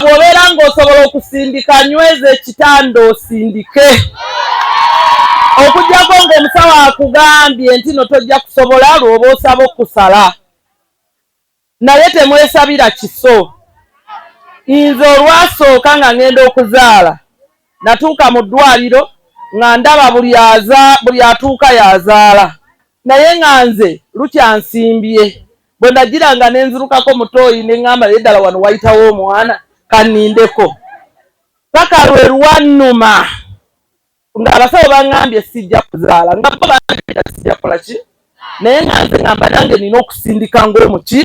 bwobeera ng'osobola okusindika nyweza ekitanda osindike okujjako ng'omusawo akugambye nti no tojja kusobola lwoba osaba okusala naye temwesabira kiso. Nze olwasooka nga ngenda okuzaala natuuka mu ddwaliro nga ndaba buli atuuka y'azaala naye nga nze lukyansimbye bwe nagira nga nenzirukako mutooyi ne ŋŋamba naye ddala wano wayitawo omwana kannindeko paka lwe lwannuma. nga abasawo bangambye sijja kuzaala nga bo bangambye sijja kola ki naye nga nze ngamba nange nina okusindika ngaomuki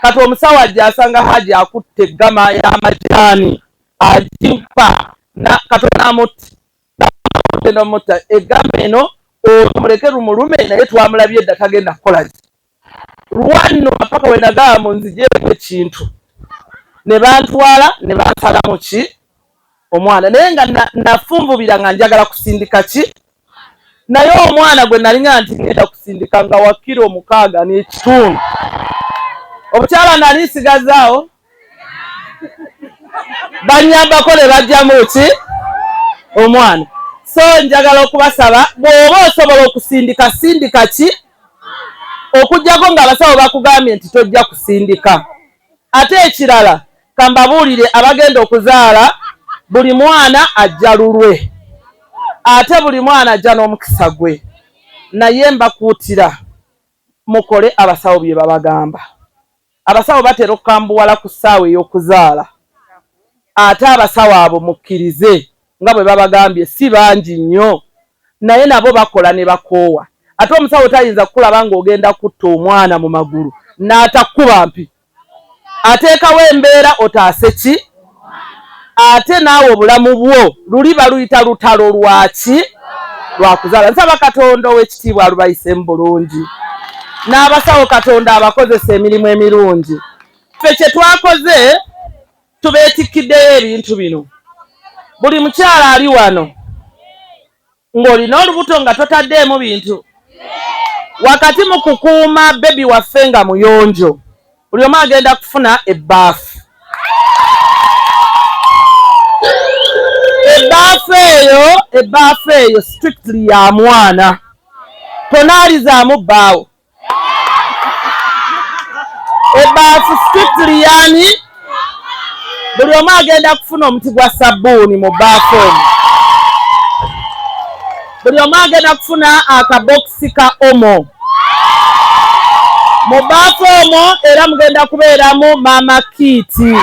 kati omusawo ajja asanga haji akutte eggama y'amajani ajimpa katonda amutti genda omutta eggama eno omuleke lumulume naye twamulabye dda tagenda kukola ki Lwannuma paka bwe nagamba munzigyeko ekintu ne bantwala ne bansalamu ki omwana naye nga nafunvubira nga njagala kusindika ki naye omwana gwe nalinga nti ngenda kusindika nga wakira omukaaga n'ekitundu obukyala nali nsigazaawo banyambako ne bajjamu ki omwana so njagala okubasaba bw'oba osobola okusindika sindika ki okujjako ng'abasawo bakugambye nti tojja kusindika ate ekirala kambabuulire abagenda okuzaala buli mwana ajja lulwe ate buli mwana ajja n'omukisa gwe naye mbakuutira Mukole abasawo bye babagamba. Abasawo batera okukambuwala ku ssaawa ey'okuzaala ate abasawo abo mukkirize nga bwe babagambye si bangi nnyo naye nabo bakola ne bakoowa. Ate omusawo tayinza kukulaba ng'ogenda kutta omwana mu magulu n'atakukuba mpi ateekawo embeera otaase ki ate naawe obulamu bwo luli baluyita lutalo lwaki lwakuzaala nsaba katonda ow'ekitiibwa alubayise mu bulungi n'abasawo katonda abakozesa emirimu emirungi ffe kye twakoze tubeetikkiddeyo ebintu bino buli mukyala ali wano ng'olina olubuto nga totaddeemu bintu wakati mu kukuuma bebi waffe nga muyonjo buli omu agenda kufuna ebbaafu ebbaafu eyo ebbaafu eyo strictly ya mwana tonaalizaamu bbaawo ebaafu strictly yani buli omu agenda kufuna omuti gwa sabbuuni mu baafu omu buli omu agenda kufuna akabokisi ka omo mu baafu omo era mugenda kubeeramu maama kiiti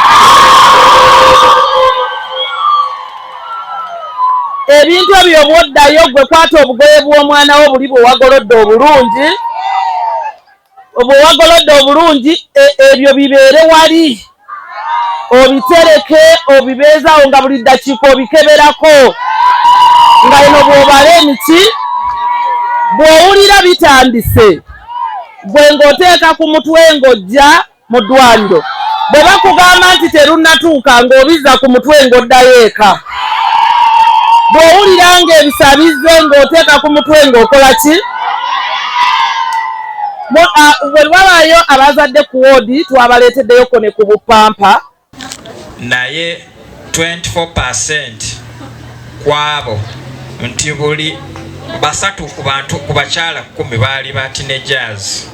ebintu ebyo bwoddayo gwe kwata obugoye bw'omwana wo buli bwewagolodde obulungi bwewagolodde obulungi e, ebyo bibeere wali obitereke obibeezawo nga buli ddakiika obikeberako nga eno bwobala emiti bw'owulira bitandise gwe ng'oteeka ku mutwe ng'ojja mu ddwaliro bwe bakugamba nti terunnatuuka ng'obizza ku mutwe ng'oddayo eka bw'owulira ng'ebisa bizze ng'oteeka ku mutwe ng'okola ki bwe wabaayo abazadde ku woodi twabaleeteddeyo ko ne ku bupampa naye 24% kwabo nti buli basatu ku bantu ku bakyala kumi baali ba teenagers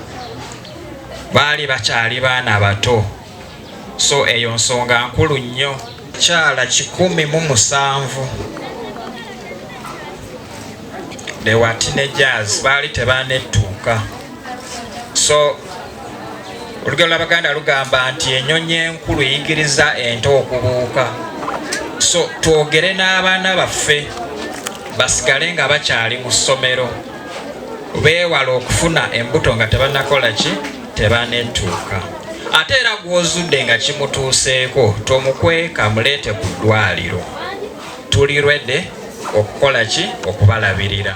baali bakyali baana bato so eyo nsonga nkulu nnyo kyala kikumi mu musanvu they were teenagers baali tebanettuuka so olugero lwabaganda lugamba nti enyonyi enkulu eyigiriza ente okubuuka so twogere n'abaana baffe basigale nga bakyali mu ssomero beewala okufuna embuto nga tebanakola ki tebanetuuka ate era gwozudde nga kimutuuseeko tomukweka muleete ku ddwaliro tuli rwede okukola ki okubalabirira